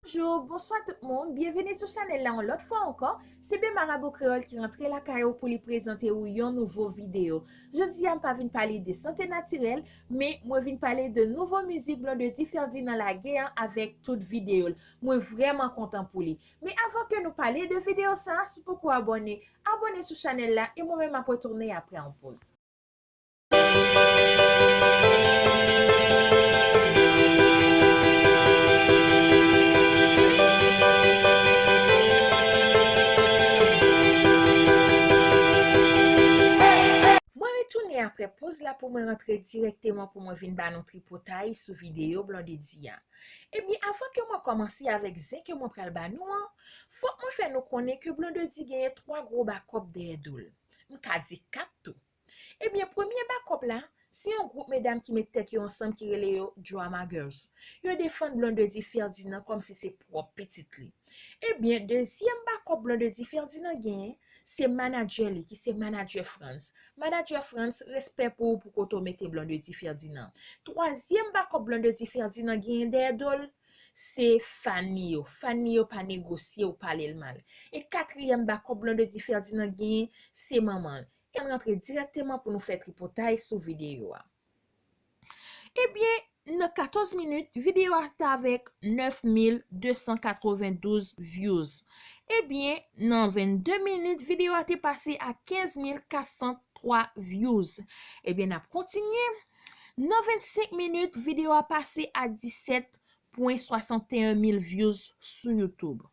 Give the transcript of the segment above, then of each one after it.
Bonjou, bonswa tout moun, byenvini sou chanèl la yon lòt fwa ankò, se Ben Marabou Kreyòl ki rantre lakay ou pou li prezante ou yon nouvo videyo. Jodi a m pa vin pale de sante natirèl, men mwen vin pale de nouvo mizik Blondedy Ferdinand lage an avèk tout videyo l. Mwen vrèman kontan pou li. Men avan ke nou pale de videyo sa, si w poko abòne, abòne sou chanèl la e mwen menm m ap retounen aprè yon poz. Mwen retounen aprè poz la pou mwen rantre dirèkteman pou mwen vin ba nou tripotay sou videyo Blondedy a. Ebyen avan ke mwen kòmanse avèk zen ke mwen pral ba nou an, fòk mwen fè nou konnen ke Blondedy genyen 3 gwo bakòp dèyè do l. M ka di 4 tou. Ebyen premye bakòp la, se yon gwoup medam ki met tèt yo ansanm ki rele yo Drama Girls. Yo defann Blondedy Ferdinand kòm si se pwòp pitit li. Ebyen dezyèm bakòp Blondedy Ferdinand genyen, se manadjè li ki se manadjè Frantz. Manadjè Frantz, respè pou ou pou kote w mete Blondedy Ferdinand. Twazyèm bakòp Blondedy Ferdinand genyen dèyè do l, se fan li yo. Fan li yo pa negosye ou pale l mal. E katriyèm bakòp Blondedy Ferdinand genyen, se manman l. Ann rantre dirèkteman pou nou fè tripotay sou videyo a. Ebyen, nan 14 minit, videyo a t avèk 9292 vyouz. Ebyen, nan 22 minit, videyo a te pase a 15403 vyouz. Ebyen, n ap kontinye. Nan 25 minit, videyo a pase a 17.61 mil vyouz sou Youtube.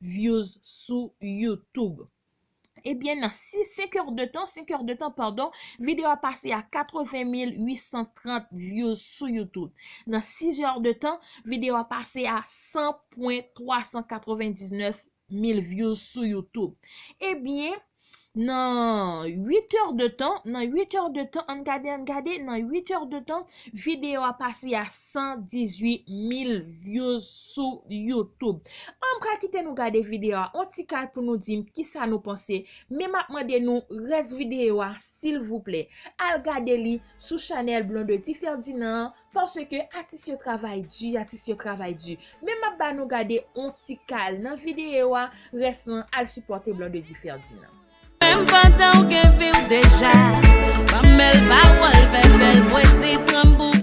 views sou youtube ebyen nan 5 heures de tan 5 heures de tan pardon video a pase a 80830 views sou youtube nan 6 heures de tan video a pase a 100.399000 views sou youtube ebyen nan 8 èr de tan, nan 8 èr de tan, ann gade, ann gade, nan 8 èr de tan, videyo a pase a 118 mil vyouz sou YouTube. An pra kite nou gade videyo a, an ti kal pou nou di m ki sa nou panse, men m ap mande nou rès videyo a silvouplè, al gade li sou chanèl Blondedy Ferdinand an, Paske atis yo travay di atis yo travay di men map ba nou gade on ti kal nan video a rès lan al sipòte Blondedy Ferdinand. Menm pandan w gen vi w deja Banm bèl pawòl fè bèl pwezi pranm pou.